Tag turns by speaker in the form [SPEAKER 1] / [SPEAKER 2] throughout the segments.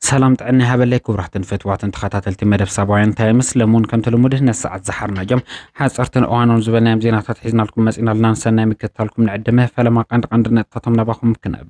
[SPEAKER 1] ሰላም ጥዕና ይሃበለይ ክቡራትን ፈትዋትን ተኸታተልቲ መደብ ሳባውያን ታይምስ ለሙን ከምቲ ልሙድ ነዚ ሰዓት ዝሓርናዮም ሓፀርትን እዋኖን ዝበልናዮም ዜናታት ሒዝናልኩም መፂና ኣለና ንሰናይ ምክትታልኩም ንዕድመ ፈለማ ቀንዲ ቀንዲ ነጥታቶም ናባኹም ክነብ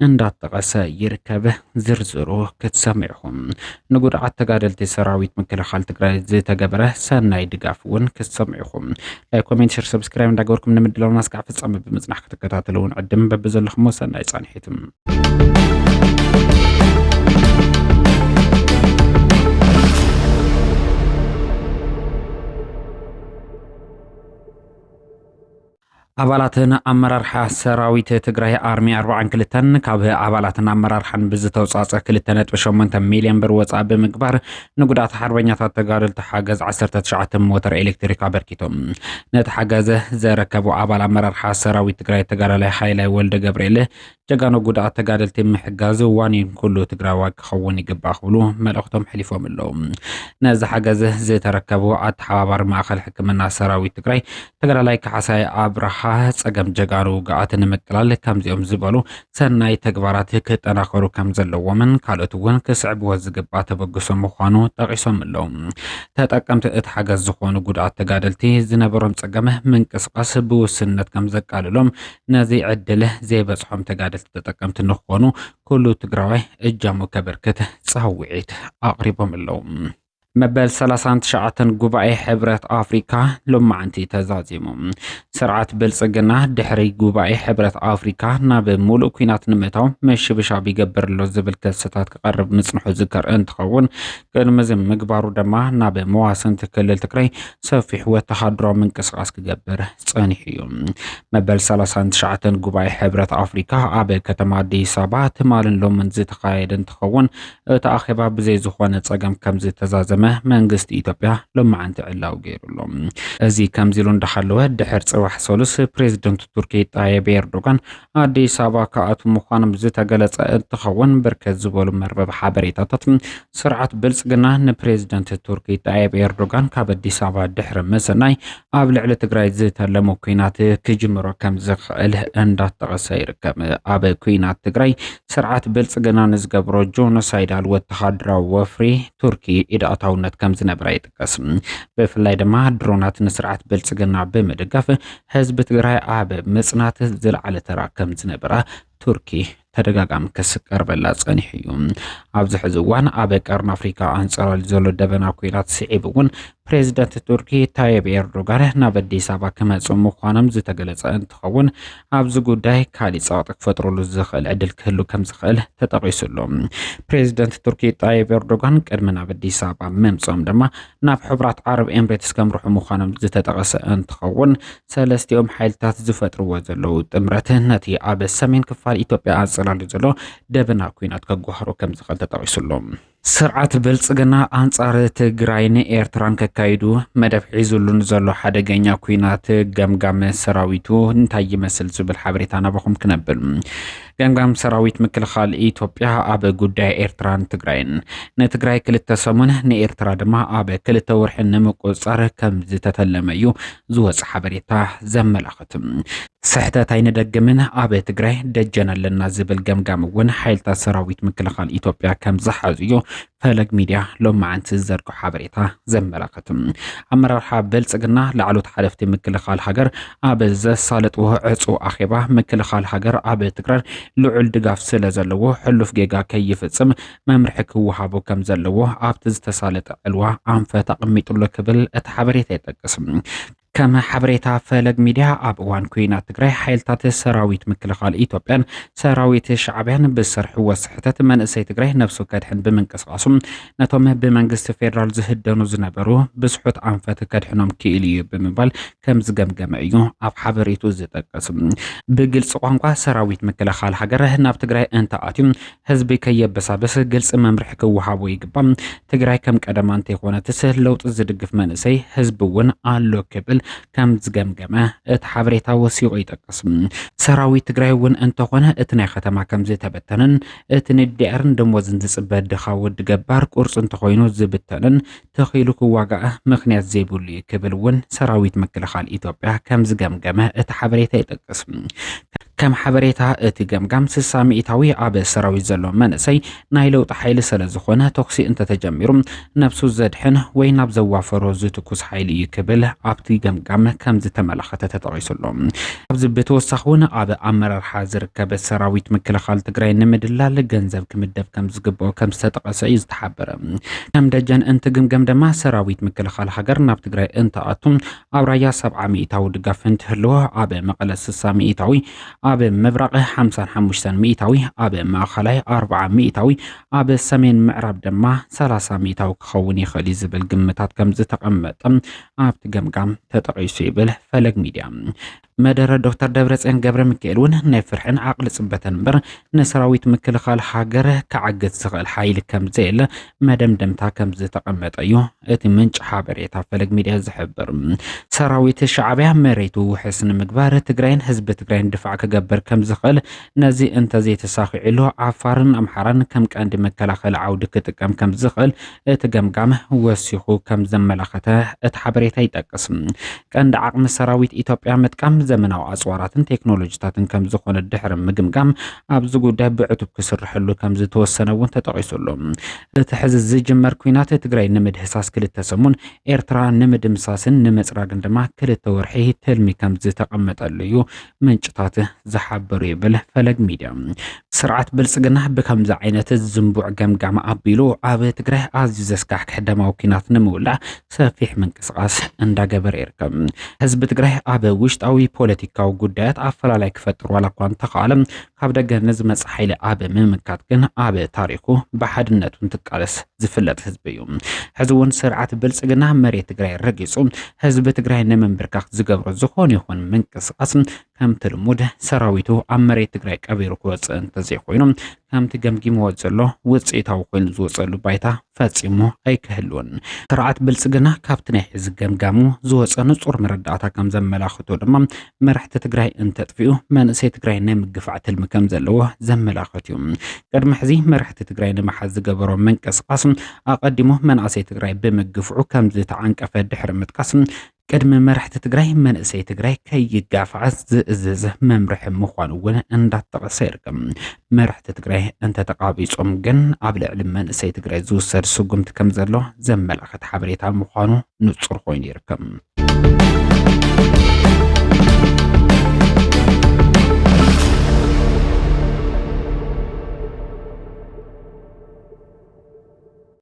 [SPEAKER 1] እንዳጠቐሰ ይርከብ። ዝርዝሩ ክትሰምዑ ኢኹም። ንጉድዓት ተጋደልቲ ሰራዊት ምክልኻል ትግራይ ዝተገበረ ሰናይ ድጋፍ እውን ክትሰምዑ ኢኹም። ላይክ፣ ኮሜንት፣ ሸር፣ ሰብስክራይብ እንዳገበርኩም ንምድላውና እስካዕ ፍጻመ ብምጽናሕ ክትከታተሉ እውን ዕድም በብዘለኹሞ ሰናይ ጻንሒትም ኣባላትን ኣመራርሓ ሰራዊት ትግራይ ኣርሚ ኣርባዓን ክልተን ካብ ኣባላትን ኣመራርሓን ብዝተውፃፀ ክልተ ነጥቢ ሸሞንተ ሚሊዮን ብር ወፃኢ ብምግባር ንጉዳት ሓርበኛታት ተጋደልቲ ሓገዝ ዓሰርተ ትሽዓተ ሞተር ኤሌክትሪክ ኣበርኪቶም ነቲ ሓገዝ ዘረከቡ ኣባል ኣመራርሓ ሰራዊት ትግራይ ተጋዳላይ ሓይላይ ወልደ ገብርኤል ጀጋኑ ጉድኣት ተጋደልቲ ምሕጋዝ ዋኒን ኩሉ ትግራዋይ ክኸውን ይግባእ ክብሉ መልእኽቶም ሕሊፎም ኣለዉ። ነዚ ሓገዝ ዝተረከቡ ኣተሓባባሪ ማእኸል ሕክምና ሰራዊት ትግራይ ተጋዳላይ ካሕሳይ ኣብርሃ ፀገም ጀጋኑ ውግኣት ንምቅላል ከምዚኦም ዝበሉ ሰናይ ተግባራት ክጠናኸሩ ከም ዘለዎምን ካልኦት እውን ክስዕብዎ ዝግባእ ተበግሶ ምዃኑ ጠቂሶም ኣለዉ። ተጠቀምቲ እቲ ሓገዝ ዝኾኑ ጉድኣት ተጋደልቲ ዝነበሮም ፀገም ምንቅስቃስ ብውስንነት ከም ዘቃልሎም ነዚ ዕድል ዘይበፅሖም ተጋደልቲ ተጠቀምቲ ንክኾኑ ኩሉ ትግራዋይ እጃሙ ከበርክት ፃውዒት ኣቕሪቦም ኣለዉ። መበል ሰላሳን ትሽዓተን ጉባኤ ሕብረት ኣፍሪካ ሎማዕንቲ ተዛዚሙ። ስርዓት ብልፅግና ድሕሪ ጉባኤ ሕብረት ኣፍሪካ ናብ ሙሉእ ኩናት ንምእታው ምሽብሻብ ይገብር ኣሎ ዝብል ክስታት ክቐርብ ምፅንሑ ዝከር እንትኸውን ቅድሚ እዚ ምግባሩ ድማ ናብ መዋስንቲ ክልል ትግራይ ሰፊሕ ወተሃደራዊ ምንቅስቓስ ክገብር ጸኒሑ እዩ። መበል ሰላሳን ትሽዓተን ጉባኤ ሕብረት ኣፍሪካ ኣብ ከተማ ኣዲስ ኣበባ ትማልን ሎምን ዝተኻየደ እንትኸውን እቲ ኣኼባ ብዘይ ዝኾነ ጸገም ከም ዝተዛዘመ መንግስቲ ኢትዮጵያ ሎማዕንቲ ዕላው ገይሩሉ። እዚ ከምዚ ኢሉ እንዳሃለወ ድሕር ጽባሕ ሰሉስ ፕሬዚደንት ቱርኪ ጣየብ ኤርዶጋን ኣዲስ ኣበባ ክኣትው ምዃኖም ዝተገለጸ እንትኸውን ብርክት ዝበሉ መርበብ ሓበሬታታት ስርዓት ብልጽግና ንፕሬዝደንት ቱርኪ ጣይብ ኤርዶጋን ካብ ኣዲስ ኣበባ ድሕሪ ምስናይ ኣብ ልዕሊ ትግራይ ዝተለሙ ኩናት ክጅምሮ ከም ዝኽእል እንዳጠቐሰ ይርከብ። ኣብ ኩናት ትግራይ ስርዓት ብልጽግና ንዝገብሮ ጆኖሳይዳል ወተሃደራዊ ወፍሪ ቱርኪ ኢድ ኣታውነት ከም ዝነበረ ይጥቀስ። ብፍላይ ድማ ድሮናት ንስርዓት ብልፅግና ብምድጋፍ ህዝቢ ትግራይ ኣብ ምፅናት ዝለዓለ ተራ ከም ዝነበራ ቱርኪ ተደጋጋሚ ክስ ቀርበላ ጸኒሑ እዩ ኣብዚ ሕዚ እዋን ኣብ ቀርኒ ኣፍሪካ ኣንጸላልዩ ዘሎ ደበና ኩናት ስዒብ እውን ፕሬዚደንት ቱርኪ ታይብ ኤርዶጋን ናብ ኣዲስ ኣበባ ክመፁ ምዃኖም ዝተገለጸ እንትኸውን ኣብዚ ጉዳይ ካሊእ ጸቕጢ ክፈጥረሉ ዝኽእል ዕድል ክህሉ ከም ዝኽእል ተጠቒሱ ኣሎ። ፕሬዚደንት ቱርኪ ጣይብ ኤርዶጋን ቅድሚ ናብ ኣዲስ ኣበባ ምምጽኦም ድማ ናብ ሕቡራት ዓረብ ኤምሬትስ ከምርሑ ምዃኖም ዝተጠቐሰ እንትኸውን ሰለስቲኦም ሓይልታት ዝፈጥርዎ ዘለዉ ጥምረት ነቲ ኣብ ሰሜን ክፋል ኢትዮጵያ ኣንጸላልዩ ዘሎ ደበና ኩናት ከጓህሮ ከም ዝኽእል ተጠቒሱ ኣሎ። ስርዓት ብልጽግና ኣንጻር ትግራይን ኤርትራን ከካይዱ መደብ ሒዙሉ ንዘሎ ሓደገኛ ኩናት ገምጋም ሰራዊቱ እንታይ ይመስል ዝብል ሓበሬታ ናባኹም ክነብል ገምጋም ሰራዊት ምክልኻል ኢትዮጵያ ኣብ ጉዳይ ኤርትራን ትግራይን ንትግራይ ክልተ ሰሙን ንኤርትራ ድማ ኣብ ክልተ ወርሒ ንምቁፅፃር ከም ዝተተለመ እዩ ዝወፅ ሓበሬታ ዘመላኽት። ኣላትም። ስሕተት ኣይንደግምን፣ ኣብ ትግራይ ደጀን ኣለና ዝብል ገምጋም እውን ሓይልታት ሰራዊት ምክልኻል ኢትዮጵያ ከም ዝሓዙ እዩ ፈለግ ሚድያ ሎማዓንቲ ዝዘርግሖ ሓበሬታ ዘመላኽትም። ኣመራርሓ ብልፅግና ላዕሎት ሓለፍቲ ምክልኻል ሃገር ኣብ ዘሳለጥዎ ዕፁው ኣኼባ ምክልኻል ሃገር ኣብ ትግራይ ልዑል ድጋፍ ስለ ዘለዎ ሕሉፍ ጌጋ ከይፍፅም መምርሒ ክወሃቦ ከም ዘለዎ ኣብቲ ዝተሳለጠ ዕልዋ ኣንፈት ኣቐሚጡሎ ክብል እቲ ሓበሬታ ይጠቅስም። ከም ሓበሬታ ፈለግ ሚድያ ኣብ እዋን ኩናት ትግራይ ሓይልታት ሰራዊት ምክልኻል ኢትዮጵያን ሰራዊት ሻዕብያን ብዝሰርሕዎ ስሕተት መንእሰይ ትግራይ ነብሱ ከድሕን ብምንቅስቓሱ ነቶም ብመንግስቲ ፌዴራል ዝህደኑ ዝነበሩ ብዝሑት ኣንፈት ከድሕኖም ክኢሉ እዩ ብምባል ከም ዝገምገመ እዩ ኣብ ሓበሬቱ ዝጠቅስ። ብግልፂ ቋንቋ ሰራዊት ምክልኻል ሃገር ናብ ትግራይ እንተኣትዩ ህዝቢ ከየበሳብስ ግልፂ መምርሒ ክወሃቦ ይግባእ። ትግራይ ከም ቀደማ እንተይኾነትስ ለውጢ ዝድግፍ መንእሰይ ህዝቢ እውን ኣሎ ክብል ከም ዝገምገመ እቲ ሓበሬታ ወሲኹ ይጠቅስ። ሰራዊት ትግራይ እውን እንተኾነ እቲ ናይ ከተማ ከም ዝተበተነን እቲ ንዲኣርን ደሞዝን ዝፅበ ድኻ ወዲ ገባር ቁርፂ እንተኾይኑ ዝብተንን ተኺሉ ክዋጋእ ምኽንያት ዘይብሉ እዩ ክብል እውን ሰራዊት ምክልኻል ኢትዮጵያ ከም ዝገምገመ እቲ ሓበሬታ ይጠቅስ። ከም ሓበሬታ እቲ ገምጋም ስሳ ሚኢታዊ ኣብ ሰራዊት ዘሎ መንእሰይ ናይ ለውጢ ሓይሊ ስለ ዝኾነ ተኩሲ እንተተጀሚሩ ነብሱ ዘድሕን ወይ ናብ ዘዋፈሮ ዝትኩስ ሓይሊ እዩ ክብል ኣብቲ ገምጋም ከም ዝተመላኸተ ተጠቒሱ ኣሎ። ካብዚ ብተወሳኺ እውን ኣብ ኣመራርሓ ዝርከብ ሰራዊት ምክልኻል ትግራይ ንምድላል ገንዘብ ክምደብ ከም ዝግበኦ ከም ዝተጠቐሰ እዩ ዝተሓበረ። ከም ደጀን እንትግምገም ድማ ሰራዊት ምክልኻል ሃገር ናብ ትግራይ እንትኣቱ ኣብ ራያ ሰብዓ ሚኢታዊ ድጋፍ እንትህልዎ ኣብ መቐለ ስሳ ሚኢታዊ፣ ኣብ ምብራቕ ሓምሳን ሓሙሽተን ሚኢታዊ፣ ኣብ ማእኸላይ ኣርብዓ ሚኢታዊ፣ ኣብ ሰሜን ምዕራብ ድማ ሰላሳ ሚኢታዊ ክኸውን ይኽእል እዩ ዝብል ግምታት ከምዝተቐመጠ ኣብቲ ገምጋም ተጠቒሱ ይብል ፈለግ ሚድያ። መደረ ዶክተር ደብረፅዮን ገብረ ሚካኤል እውን ናይ ፍርሕን ዓቕሊ ፅበተን እምበር ንሰራዊት ምክልኻል ሃገር ክዓግት ዝኽእል ሓይሊ ከም ዘየለ መደምደምታ ከም ዝተቐመጠ እዩ እቲ ምንጭ ሓበሬታ ፈለግ ሚድያ ዝሕብር። ሰራዊት ሻዕቢያ መሬቱ ውሕስ ንምግባር ትግራይን ህዝቢ ትግራይን ድፋዕ ክገብር ከም ዝኽእል ነዚ እንተዘይተሳኺዕሉ ዓፋርን ኣምሓራን ከም ቀንዲ መከላኸሊ ዓውዲ ክጥቀም ከም ዝኽእል እቲ ገምጋም ወሲኹ ከም ዘመላኸተ እቲ ሓበሬታ ይጠቅስ። ቀንዲ ዓቕሚ ሰራዊት ኢትዮጵያ ምጥቃም ዘመናዊ ኣፅዋራትን ቴክኖሎጂታትን ከም ዝኾነ ድሕሪ ምግምጋም ኣብዚ ጉዳይ ብዕቱብ ክስርሐሉ ከም ዝተወሰነ እውን ተጠቒሱ ኣሎ። እቲ ሕዚ ዝጅመር ኲናት ትግራይ ንምድህሳስ ክልተ ሰሙን፣ ኤርትራ ንምድምሳስን ንምፅራግን ድማ ክልተ ወርሒ ትልሚ ከም ዝተቐመጠሉ እዩ ምንጭታት ዝሓበሩ ይብል ፈለግ ሚድያ። ስርዓት ብልፅግና ብከምዚ ዓይነት ዝንቡዕ ገምጋም ኣቢሉ ኣብ ትግራይ ኣዝዩ ዘስካሕክሕ ደማዊ ኩናት ንምውላዕ ሰፊሕ ምንቅስቓስ እንዳገበረ ይርከብ። ህዝቢ ትግራይ ኣብ ውሽጣዊ ፖለቲካዊ ጉዳያት ኣፈላላይ ክፈጥር ዋላ እኳ እንተኸኣለ ካብ ደገ ንዝመጽእ ሓይሊ ኣብ ምምካት ግን ኣብ ታሪኹ ብሓድነቱ እንትቃለስ ዝፍለጥ ህዝቢ እዩ። ሕዚ እውን ስርዓት ብልጽግና መሬት ትግራይ ረጊጹ ህዝቢ ትግራይ ንምንብርካኽ ዝገብሮ ዝኾነ ይኹን ምንቅስቓስ ከምቲ ልሙድ ሰራዊቱ ኣብ መሬት ትግራይ ቀቢሩ ክወጽእ እንተዘይኮይኑ ከምቲ ገምጊምዎ ዘሎ ውጽኢታዊ ኮይኑ ዝወጸሉ ባይታ ፈጺሙ ኣይክህሉን። ስርዓት ብልጽግና ካብቲ ናይ ሕዚ ገምጋሙ ዝወጸ ንጹር መረዳእታ ከም ዘመላኽቶ ድማ መራሕቲ ትግራይ እንተጥፍኡ መንእሰይ ትግራይ ናይ ምግፋዕ ትልሚ ከም ዘለዎ ዘመላኽት እዩ። ቅድሚ ሕዚ መራሕቲ ትግራይ ንምሓዝ ዝገበሮ ምንቅስቓስ ኣቐዲሙ መናእሰይ ትግራይ ብምግፍዑ ከም ዝተዓንቀፈ ድሕሪ ምጥቃስ ቅድሚ መራሕቲ ትግራይ መንእሰይ ትግራይ ከይጋፋዕ ዝእዝዝ መምርሒ ምዃኑ እውን እንዳተጠቐሰ ይርከብ። መራሕቲ ትግራይ እንተተቓቢጾም ግን ኣብ ልዕሊ መንእሰይ ትግራይ ዝውሰድ ስጉምቲ ከም ዘሎ ዘመላኽት ሓበሬታ ምዃኑ ንጹር ኮይኑ ይርከብ።